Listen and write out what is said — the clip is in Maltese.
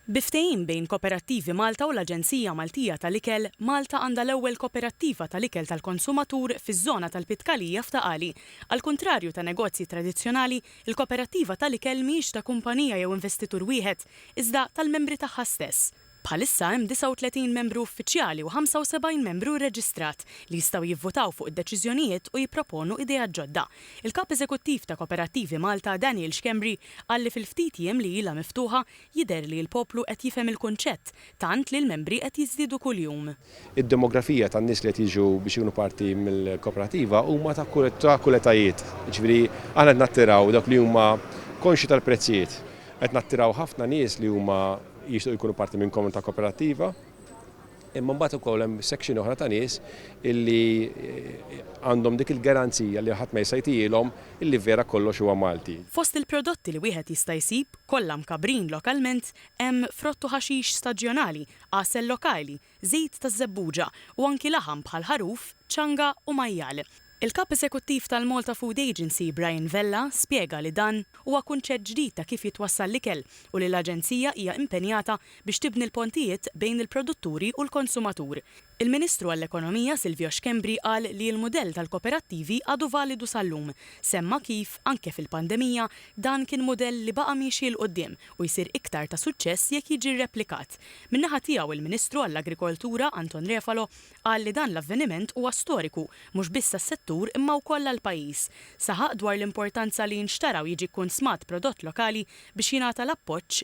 Bi ftehim bejn Koperattivi Malta u l-Aġenzija Maltija tal-Ikel, Malta għandha l-ewwel koperattiva tal-ikel tal-konsumatur fiż-żona tal-Pitkalija f'Ta' Qali. Għall-kuntrarju ta' negozji tradizzjonali, il-koperattiva tal-ikel mhijiex ta' kumpanija jew investitur wieħed, iżda tal-membri tagħha stess. Bħalissa hemm 39 membru uffiċjali u 75 membru rreġistrat, li jistgħu jivvutaw fuq id-deċiżjonijiet u jipproponu ideat ġodda. Il-Kap Eżekuttiv ta' Koperattivi Malta, Daniel Schembri, Qal li fil-ftit jiem li ilha miftuħa jidher li l-poplu qed jifhem il-kunċett tant li l-membri qed jiżdiedu kuljum. Id-demografija tan-nies li qed jiġu biex ikunu parti mill-kooperativa huma ta' kull etajiet. Jiġifieri aħna qed nattiraw dawk li huma konxji tal-prezzijiet. Qed nattiraw ħafna nies li huma jixtiequ jkunu parti minn komunità kooperattiva. Imma mbagħad ukoll hemm section oħra ta' nies illi għandhom dik il-garanzija li ħadd ma jista' jtihilhom illi vera kollox huwa Malti. Fost il-prodotti li wieħed jista' jsib, kollha mkabbrin lokalment, hemm frott u ħaxix staġjonali, għasel lokali, żejt taż-żebbuġa u anki laħam bħal ħaruf, ċanga u majjal. Il-Kap Eżekuttiv tal-Malta Food Agency, Brian Vella, spjega li dan huwa kunċett ġdid ta' kif jitwassal l-ikel u li l-Aġenzija hija impenjata biex tibni l-pontijiet bejn il-produtturi u l-konsumatur. Il-Ministru għall-Ekonomija Silvio Schembri qal li l-mudell tal-koperattivi għadu validu sal-lum. Semma kif, anke fil-pandemija, dan kien mudell li baqa' miexi 'l quddiem u jsir iktar ta' suċċess jekk jiġi rreplikat. Min-naħa tiegħu l-Ministru għall-Agrikoltura Anton Refalo Qal li dan l-avveniment huwa storiku mhux biss għas-settur imma wkoll għall-pajjiż. Saħaq dwar l-importanza li jinxtara u jiġi kkunsmat prodott lokali biex jingħata l-appoġġ.